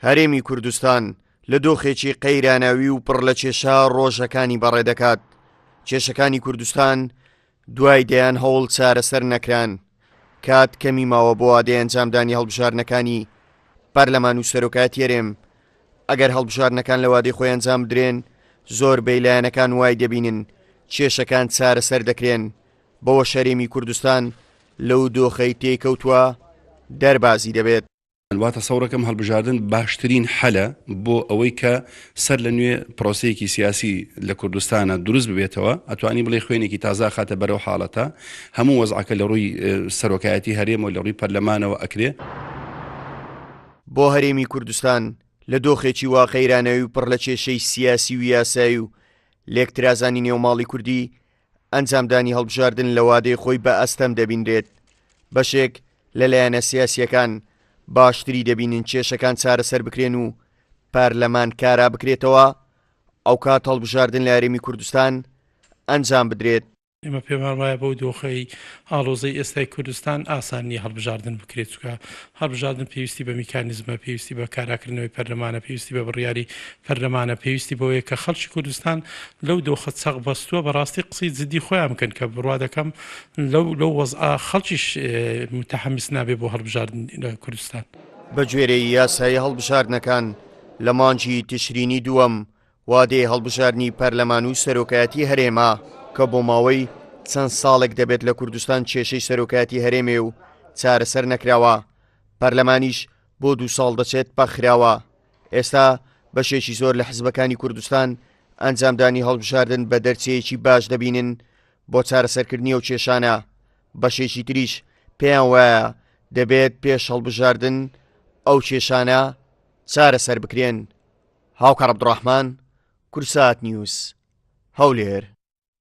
هەرێمی کوردستان لە دۆخێکی قەیراناوی و پڕ لە کێشا ڕۆژەکانی بەڕێدەکات کێشەکانی کوردستان دوای دەیان هەوڵ چارەسەر نەکران کات کەمی ماوە بۆ ئادەی ئەنجامدانی هەڵبژارنەکانی پەرلەمان و سەرۆکات یەرێم ئەگەر هەڵبژارنەکان لە وادەی خۆی ئەنجام بدرێن زۆر بەیلایەنەکان وای دەبینن کێشەکان چارەسەر دەکرێن بەوەش هەرێمی کوردستان لەو دۆخەی تێکەوتوە دەربازی دەبێت. واتە سەوڕەکەم هەڵبژاردن باشترین حەلە بۆ ئەوەی کە سەر لە نوێ پرۆسەیەکی سیاسی لە کوردستانە دروست ببێتەوە ئەتوانی بڵێ خوێنێکی تازا خاتە بەرەو حاڵەتە هەموو وەزعەکە لە ڕووی سەرۆکایەتی هەرێمەوە لە ڕووی پەرلەمانەوە ئەکرێ بۆ هەرێمی کوردستان لە دۆخێکی وا قەیرانەوی و پڕ لە کێشەی سیاسی و یاسایی و لێکترازانی نێوماڵی کوردی ئەنجامدانی هەڵبژاردن لە وادەی خۆی بە ئەستەم دەبینرێت، بەشێک لە لایەنە سیاسییەکان باشتری دەبینن کێشەکان چارەسەر بکرێن و پەرلەمان کارا بکرێتەوە، ئەوکات هەڵبژاردن لە هەرێمی کوردستان ئەنجام بدرێت. ئێمە پێمان وایە بەو دۆخەی ئاڵۆزەی ئێستای کوردستان ئاسان نییە هەڵبژاردن بکرێت، چونکە هەڵبژاردن پێویستی بە میکانیزمە، پێویستی بە کاراکردنەوەی پەرلەمانە، پێویستی بە بڕیاری پەرلەمانە، پێویستی بەوەیە کە خەڵکی کوردستان لەو دۆخە چەق بەستووە بەڕاستی قسەی جدی خۆیان بکەن کە بڕوا دەکەم لەو لەو وەزعە خەڵکیش متحمس نابێ بۆ هەڵبژاردن لە کوردستان. بەگوێرەی یاسای هەڵبژاردنەکان لە مانگی تشرینی دووەم وادەی هەڵبژاردنی پەرلەمان و سەرۆکایەتی هەرێمە کە بۆ ماوەی چەند ساڵێک دەبێت لە کوردستان کێشەی سەرۆکایەتی هەرێمێ و چارەسەر نەکراوە، پەرلەمانیش بۆ دوو ساڵ دەچێت پەخ خراوە، ئێستا بەشێکی زۆر لە حزبەکانی کوردستان ئەنجامدانی هەڵبژاردن بە دەرچەیەکی باش دەبینن بۆ چارەسەرکردنی ئەو کێشانە، بەشێکی تریش پێیان وایە دەبێت پێش هەڵبژاردن ئەو کێشانە چارەسەر بکرێن. هاوکار عبدالرحمن کوردساتنیوز هەولێر.